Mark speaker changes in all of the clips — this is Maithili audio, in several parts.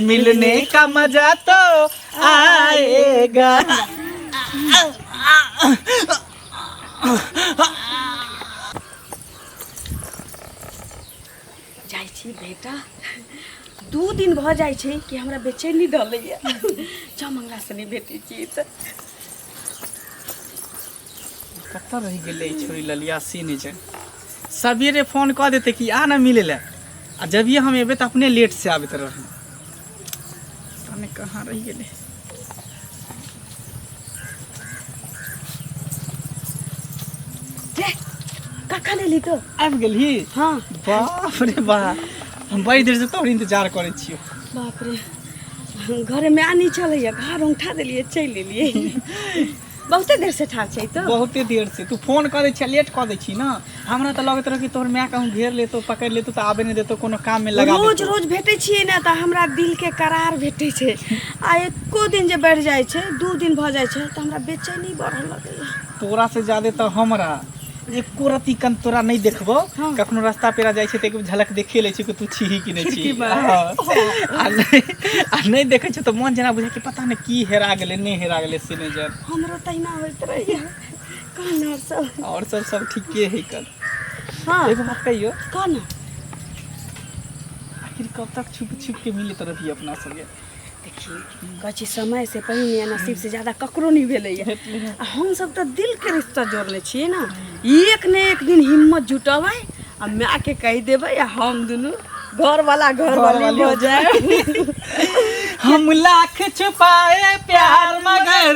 Speaker 1: मिलने का मजा तो आएगा
Speaker 2: जाइ छी बेटा दू दिन भऽ जाइ छै कि हमरा बेचैनी डलैया जब मंगला से नहि भेटै छी तऽ
Speaker 1: कतऽ रहि गेलै ई छोरी ललिया से नहि छै सबेरे फोन कऽ देतै कि आ ने मिलै लए आ जभिए हम एबै तऽ अपने लेट से आबैत रहै पता नहि कहाँ रहि गेलै
Speaker 2: कखन एली तो आबि गेलही हाँ
Speaker 1: बाप
Speaker 2: रे
Speaker 1: बा हम बड़ी देर से तोहर इंतजार करै छियौ बाप रे
Speaker 2: घरमे आ नहि छलैया घर उठा देलियै चलि एलियै बहुते देर से ठाक छै तो बहुते देर से तू
Speaker 1: फोन कऽ दै छियै लेट कऽ दै छी ने हमरा तऽ लगैत रहै कि तोहर माय कहूँ घेर लेतो पकड़ि लेतो तऽ आबे नहि देतो कोनो काम में लगा रोज देतो। रोज भेटै छियै
Speaker 2: ने तऽ हमरा दिल के करार भेटै छै आ एको दिन जे बढ़ि जाइ छै दू दिन भऽ जाइ छै तऽ हमरा बेचैनी बढ़ऽ लगैया तोरा से ज्यादा तऽ हमरा
Speaker 1: एको रति कन तोरा नहि देखबो हँ। कखनो रास्ता
Speaker 2: पेरा जाइ
Speaker 1: छै तऽ एक बेर झलक देखिए लै छी कि तू छीही कि नहि छी खिड़की पर। हँ। आ नहि आ नहि देखै छै तऽ मोन जेना बुझै कि पता नहि की हेरा गेलै नहि हेरा गेलै से नहि जान हमरो तहिना होइत
Speaker 2: रहैया कहना सब आओर सब सब ठीके
Speaker 1: है कल हँ एगो
Speaker 2: बात कहियो
Speaker 1: कहना आखिर कब तक छुप छुप के मिलैत रहियै अपना सबके
Speaker 2: कहै छी समयसँ पहिने नसीबसँ ज्यादा ककरो नहि भेलैए आ हमसभ तऽ दिलके रिश्ता जोड़ने छियै ने एक ने एक दिन हिम्मत जुटबै आ मायके कहि देबै आ हम दुनू घरवला घरवाली हो जाए हम
Speaker 1: लाख छुपाए प्यार मगर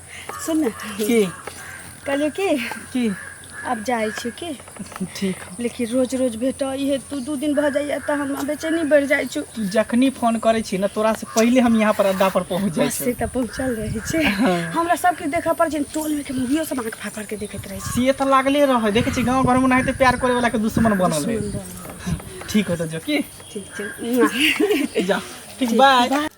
Speaker 2: सुन ने की
Speaker 1: कहलियौ
Speaker 2: की की
Speaker 1: आब जाइ
Speaker 2: छियौ की ठीक
Speaker 1: लेकिन रोज रोज
Speaker 2: भेटऽ इहे तू दू दिन भऽ जाइए तऽ हमरा बेचैनी बढ़ि जाइ छौ तू जखनी फोन करै
Speaker 1: छी ने तोरा से पहिले हम यहाँ पर अड्डा पर पहुँच जाइ से छी तऽ पहुँचल रहै
Speaker 2: छै हमरा सबके देखऽ पड़ै छै टोलमे के मुभियो सब आँख फाड़ फाड़ के देखैत रहै छै से तऽ लागले रहै
Speaker 1: देखै छी गाँव घरमे ओनाहिते प्यार करे वाला के दुश्मन बनल है ठीक हो तऽ जो की
Speaker 2: ठीक छै
Speaker 1: जा ठीक बाय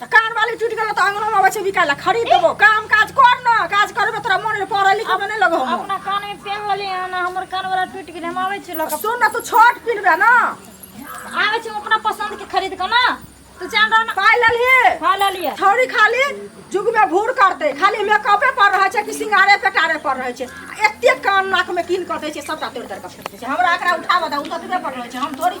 Speaker 3: तऽ कान
Speaker 4: वाली टूटि गेल तऽ अंगनो में अबै छै बिकाय ला खरीद देबो काम काज कर न काज करबे तोरा मन रे पढ़े लिखे में नहीं लगो हम अपना कान में पेन
Speaker 3: लेली है ना हमर कान वाला टूट गेल हम आवे छी लक सुन ना तू छोट पिनबे
Speaker 4: ना आवे
Speaker 3: छी अपना पसंद के खरीद के ना तू जान रहा ना पाय ललही हां ले
Speaker 4: लिया छौरी
Speaker 3: खाली
Speaker 4: जुग में भूर करते खाली मेकअपे पर रहे छै कि सिंगारे पेटारे पर रहे छै आ एते कान नाक में कीन कर दे छै सबटा तोड़ तोड़ के फेंक दे छै हमरा एकरा उठाबऽ दा उतरबे पर रहे छै हम थोड़ी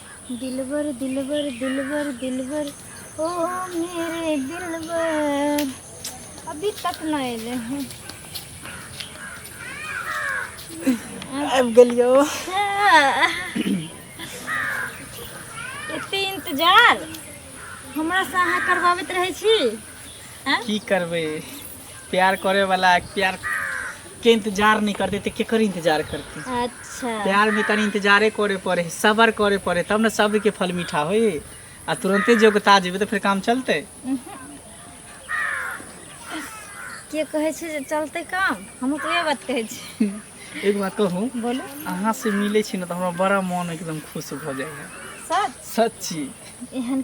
Speaker 3: दिलबर दिलबर दिलबर दिलबर ओ मेरे दिलबर अभी तक ना एले हैं
Speaker 1: आबि गेलियो
Speaker 3: एते इंतजार हमरा से अहाँ करबाबैत रहै छी की
Speaker 1: करबै प्यार करे वाला प्यार के इंतजार नहीं करते तो केकर इंतजार करते अच्छा प्यार
Speaker 3: में तनी इंतजारे
Speaker 1: करे पड़े सबर करे पड़े तब ना सब्र के फल मीठा होई आ तुरंते जो उगता जेबे तो फिर काम चलते
Speaker 3: के कहे छै जे चलते काम हम तो ये बात कहे छी एक बात कहूँ
Speaker 1: बोलो अहाँ से
Speaker 3: मिले
Speaker 1: छी ना तो हमरा बड़ा मन एकदम खुश हो जाए है सच सच्ची
Speaker 3: एहन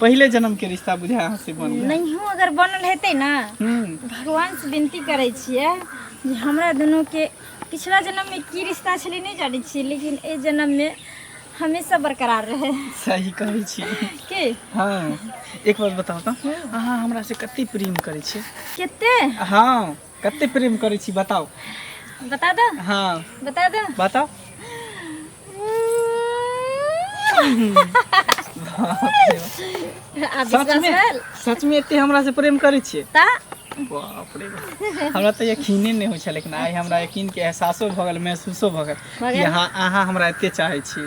Speaker 1: पहिले जन्म के रिश्ता बुझा अहाँ से बन गेल नहियो अगर बनल हेतै
Speaker 3: ने हम्म, भगवान से विनती करै छियै जे हमरा दुनू के पिछला जन्म में की रिश्ता छलै नहि जानै छियै लेकिन एहि जन्म में हमेशा बरकरार रहै सही कहै छी
Speaker 1: के हाँ एक बात बताओ तो अहाँ हमरा से कते प्रेम करै छी कते
Speaker 3: हाँ
Speaker 1: कते प्रेम करै छी बताउ बता दो
Speaker 3: हँ
Speaker 1: बता दो बताउ आ विश्वास सचमे भेल सचमे एते हमरा से प्रेम करै छियै ता बाप रे
Speaker 3: बाप।
Speaker 1: हमरा तऽ यकीने नहि होइ छल लेकिन आइ हमरा यकीन के एहसासो भऽ गेल महसूसो भऽ गेल भऽ कि गेल? अहाँ अहाँ हमरा एते चाहै छी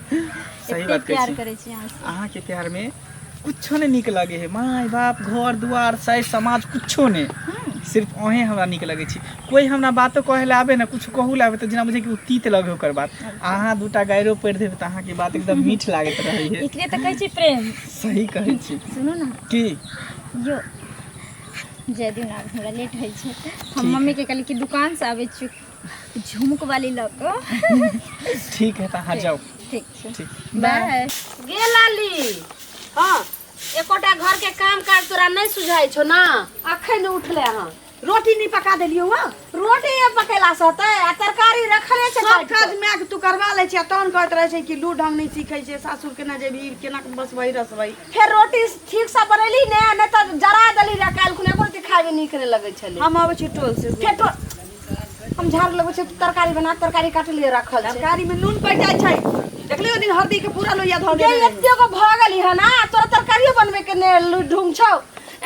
Speaker 1: सही एते बात कहै प्यार छी
Speaker 3: करै छी अहाँ से। अहाँके प्यार
Speaker 1: मे कुछो नहि नीक लगे हे माय बाप घर दुआर साइर समाज कुछो नहि हम्म, सिर्फ अहें हमरा नीक लगै छी कोइ हमरा बातो कहै लए आबे ने किछु कहू लए आबे तऽ जेना बुझे कि ओ तीत लगे ओकर बात अहाँ दूटा गायरो पढ़ि देबै तऽ अहाँके बात एकदम मीठ लागैत रहै हे एकरे तऽ कहै छी प्रेम
Speaker 3: सही कहै छी
Speaker 1: सुनू ने की यो
Speaker 3: जय दिन आब हमरा लेट होइ छै हम ठीक मम्मी के कहली कि दुकान से आबै छी झुमक वाली लग ठीक है
Speaker 1: तहाँ जाओ ठीक छै ठीक।
Speaker 3: बाय
Speaker 1: गे
Speaker 3: लाली
Speaker 2: हाँ एकोटा घर के काम काज तोरा नहीं सुझाई छो ना अखन उठले हाँ रोटी नहीं पका
Speaker 4: देलियो हाँ रोटी ये पकेला
Speaker 2: से होते आ तरकारी रखले छै सब काटि कऽ। काज माय के तू
Speaker 4: करवा ले छै आ तहन कहैत रहे छै कि लू ढंग नहीं सीखे छै सासुर केना जेबी केना के बसबै रसबै फेर रोटी
Speaker 2: ठीक से बनेली ने नहीं तो जरा देली रह काल्हि खुने एको रति खाए में नीक नहीं लगे छले हम आबै छी टोल से
Speaker 4: फेर तो
Speaker 2: हम झाड़ लगबै छी तरकारी बना तरकारी काट लिए रखल छै तरकारी में नून पड़ जाए छै
Speaker 4: देखली ओ दिन हल्दी के पूरा लोहिया धो ये देले एते को भ
Speaker 2: गेली
Speaker 4: है
Speaker 2: ना तोरा तरकारियो बनबे के ने लु- ढूंग छौ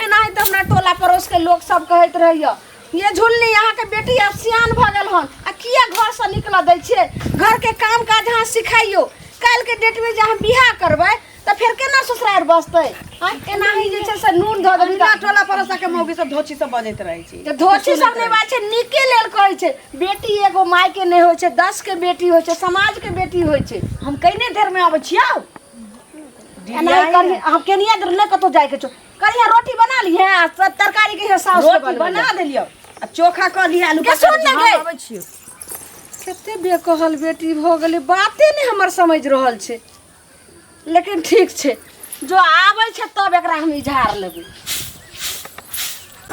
Speaker 2: एना ही तो हमरा टोला पड़ोस के लोग सब कहैत रहियो ये झुलनी यहाँ के बेटी अब सियान भ गेल हन आ किया घर से निकल दै छियै घर के काम काज अहाँ सिखाइयो काल्हि के डेट में जे अहाँ बियाह करबै तऽ फेर केना ससुरार बसतै आँय, केना ही जे छै से नून धऽ देबी अहिना टोला पड़ोसा के
Speaker 4: मौगी सब धोची सब बजैत रहै छी तऽ धोती सब नहि बात
Speaker 2: छै नीके लेल कहै छै बेटी एगो माय के नहि होइ छै दस के बेटी होइ छै समाज के बेटी होइ छै हम कइने देर में
Speaker 4: आबै छियौ
Speaker 2: एना ही करिहे हम केनिया देर नहि कतौ जाय के छौ करिहे रोटी बना लिहे आ त- तरकारी के हे साउस के रोटी बनबै बना ले। देलियो आ
Speaker 4: चोखा कऽ लिया आलू के सुन पकड़ के, ने हम गै। अबै
Speaker 2: छियौ
Speaker 4: कते बेकहल बेटी भऽ गेलै बाते नहि हमर समझ रहल छै लेकिन
Speaker 2: ठीक छै जो आबै छै तब एकरा हम इझार लेबै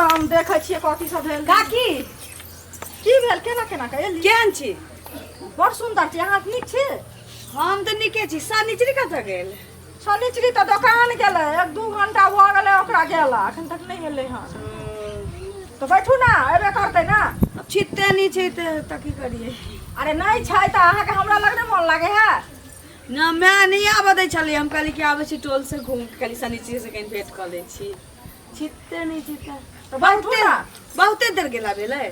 Speaker 2: हम
Speaker 4: देखै छियै कथी सब भेल काकी
Speaker 2: की
Speaker 4: भेल केना केना के एली केहन छी बड़ सुन्दर छी अहाँ नीक छी हम तऽ नीके छी सनिचरी कतऽ गेल सनिचरी तऽ दोकान गेलै एक दू घंटा भऽ गेलै ओकरा गेला एखन तक नहि एलै हँ तऽ बैठू ने अयबे करतै ने अब छिते नहि छै तऽ तऽ की करियै अरे नहि छै तऽ अहाँके हमरा लग नहि मोन लागै है ना माय नहि आबऽ दै छलै हम कहली कि आबै छी टोल से घूम के कनी सनीची से कनी भेंट कऽ लै छी छिते नहि छिते तऽ बात बहुते पूरा। बहुते देर गेला भेलै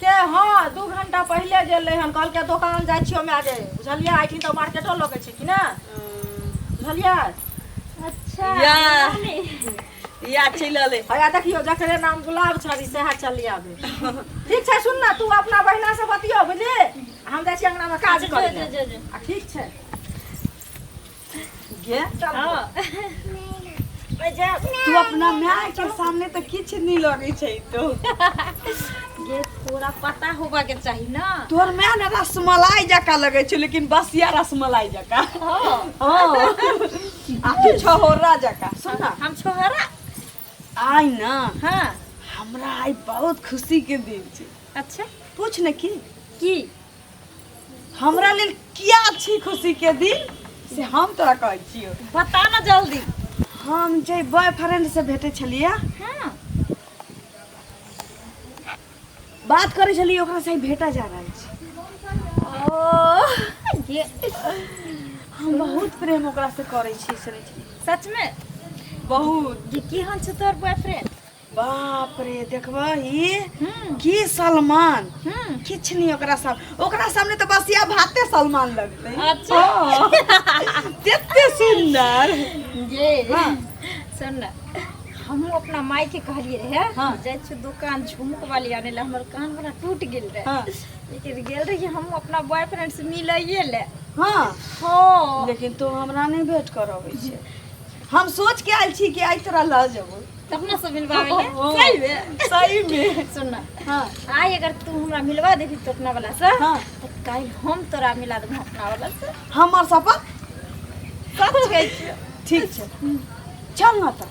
Speaker 4: के हँ दू घंटा पहिले गेल रहन कहलकै दोकान जाइ छियो माय गे बुझलियै आइ दिन तऽ मार्केटो लगे छै कि ने बुझलियै
Speaker 3: अच्छा या। नानी।
Speaker 4: इएह चलि अलै हया देखियौ जकरे नाम गुलाब छड़ी सएह चलि आबै ठीक छै सुन ने तू अपना बहिनासँ बतियो बुझली हम जाइ छी अंगनामे काज करै लए। आ ठीक छै गे तू अपना माय के सामने तऽ किछु नहि लगै
Speaker 3: छै
Speaker 4: तो ये थोड़ा
Speaker 3: पता होबा के चाही ना तोर माय ने
Speaker 2: रसमलाई जकाँ लगै छै लेकिन बसिया रसमलाई जकाँ हँ आ तू छहोरा जका सुन ना हम छोहरा
Speaker 3: आइ
Speaker 2: ना हाँ
Speaker 3: हमरा आइ
Speaker 2: बहुत खुशी के दिन छै अच्छा पूछ
Speaker 3: न की
Speaker 2: की हमरा लेल किया छी खुशी के दिन से हम तोरा कहै छियो बता ना जल्दी
Speaker 3: हम जे
Speaker 2: बॉयफ्रेंड से भेटे छलियै
Speaker 3: हाँ
Speaker 2: बात करे छलिए ओकरा से भेटा जा रहल छी ओ
Speaker 3: ये
Speaker 2: हम बहुत प्रेम ओकरा से करे छी सुनै छी सच में
Speaker 3: बहुत
Speaker 2: ये की हन छै तोर
Speaker 3: बॉयफ्रेंड बाप
Speaker 2: रे देखबा ही हम्म की सलमान हम्म किछ नहीं ओकरा साम ओकरा सामने तो बस या भाते सलमान लगते अच्छा। हाँ।
Speaker 3: केते
Speaker 2: सुंदर ये
Speaker 3: हाँ।
Speaker 2: सुन ना
Speaker 3: हमहूँ अपना माई के कहलिए रहे हाँ। जाए छी दुकान झुमक वाली आने ला हमर कान वाला टूट गेल रहे हाँ। लेकिन गेल
Speaker 2: रही
Speaker 3: हम अपना बॉयफ्रेंड से मिलइए ले हाँ हाँ लेकिन तो हमरा
Speaker 2: नहीं भेंट करब छै हम सोच के आयल छी कि आइ तोरा लऽ जेबो अपना से मिलवावे
Speaker 3: ले हाँ। सही में सही में सुन
Speaker 2: ना
Speaker 3: हाँ आई अगर
Speaker 2: तू हमरा
Speaker 3: मिलवा देबी तो अपना वाला से हाँ। तो काल
Speaker 2: हम
Speaker 3: तोरा मिला देबो अपना वाला से हमर सपन
Speaker 2: कत
Speaker 3: गई ठीक छै
Speaker 2: चल ना त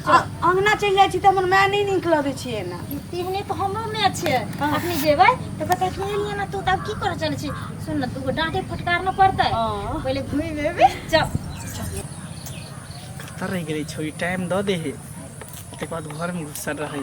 Speaker 2: अंगना चल जाय छी त हमर माय नहीं निक लगे छी ना तिहने तो हमरो
Speaker 3: में अच्छे हाँ। अपने जेबै
Speaker 2: तो
Speaker 3: कहते कि लिए ना तू तब की कर चल छी सुन ना तू को डांटे फटकार न पड़ते हाँ। पहले घूमी
Speaker 2: बेबे
Speaker 3: चल
Speaker 1: तर रह गेलै छोरी टाइम दऽ दे हे तकर बाद घरमे घुसल रहै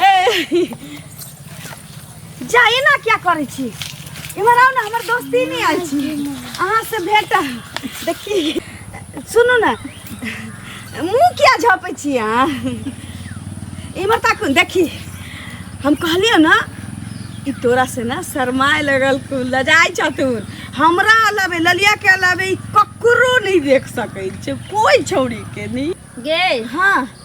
Speaker 2: ए, जा एना क्या करै छी इम्हर आउ ने हमर दोस्ती नहीं आयल छी अहाँ से भेट देखी सुनू ने मुँह किया झपै छी अहाँ इम्हर ताकू देखी हम कहलियौ ने कि तोरा से ना शरमाए लगल कु लजाइ छ तू हमरा अलावे ललिया के अलावे ई ककरो नहीं देख सकै छै कोई छौड़ी के नहीं गे हाँ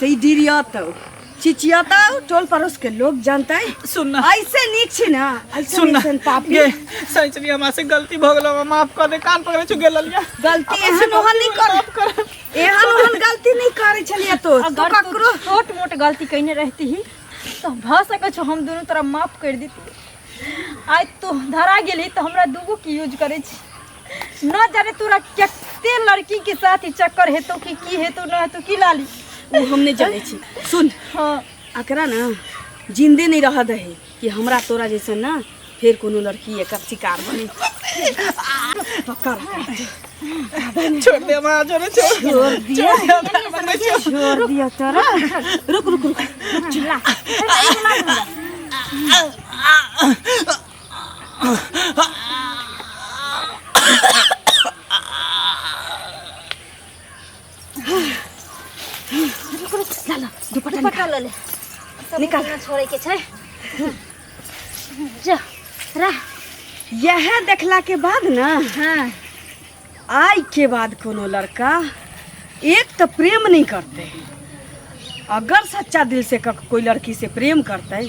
Speaker 2: ते ई डिरियातौ चिचियातौ टोल पड़ोस के लोग जानतै सुन ना। ऐसे नीक
Speaker 1: छी ना
Speaker 2: ऐसे सुन ना ऐसन पापी
Speaker 1: ये
Speaker 2: सैचरी
Speaker 1: हमरा से गलती भ गेलो हमरा माफ कर दे कान पकड़े छु गेल लिया गलती एहन ओहन
Speaker 2: नहीं कर एहन ओहन गलती नहीं करे छलिए तो तू अगर तू ककरो छोट
Speaker 3: मोट
Speaker 2: गलती
Speaker 3: कइने रहती ही तो भ सकै छौ हम दुनू तोरा माफ कर देती आइ तू धरा गेली तो हमरा दूगो के यूज करै छी न जाने तोरा कते लड़की के साथ ई चक्कर हेतो कि की हेतो न हेतो की लाली उ हम नहीं जाने
Speaker 2: छी सुन हाँ अकरा
Speaker 3: ना
Speaker 2: जिंदे नहीं रह दे कि हमरा तोरा जैसा ना फिर कोनो लड़की एकर शिकार बने
Speaker 1: छोड़ दे माँ जो रे छोड़ छोड़ दिया छोड़
Speaker 2: दिया तोरा रुक रुक रुक
Speaker 3: दुपट्टा पटा ले निकाल। निकाल
Speaker 2: छोड़े के छै
Speaker 3: जा रह यह
Speaker 2: देखला के बाद ना हाँ
Speaker 3: आय
Speaker 2: के बाद कोनो लड़का एक तो प्रेम नहीं करते अगर सच्चा दिल से कक- कोई लड़की से प्रेम करते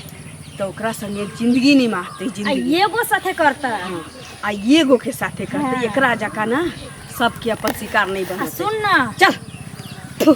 Speaker 2: तो ओकरा संगे जिंदगी नहीं मारते आ जिंदगी एगो साथे करता
Speaker 3: हाँ, आ ये
Speaker 2: गो के साथे करते हाँ। एकरा जका ना सबके
Speaker 3: अपन
Speaker 2: शिकार नहीं आ बनते
Speaker 3: सुन
Speaker 2: ना चल थु।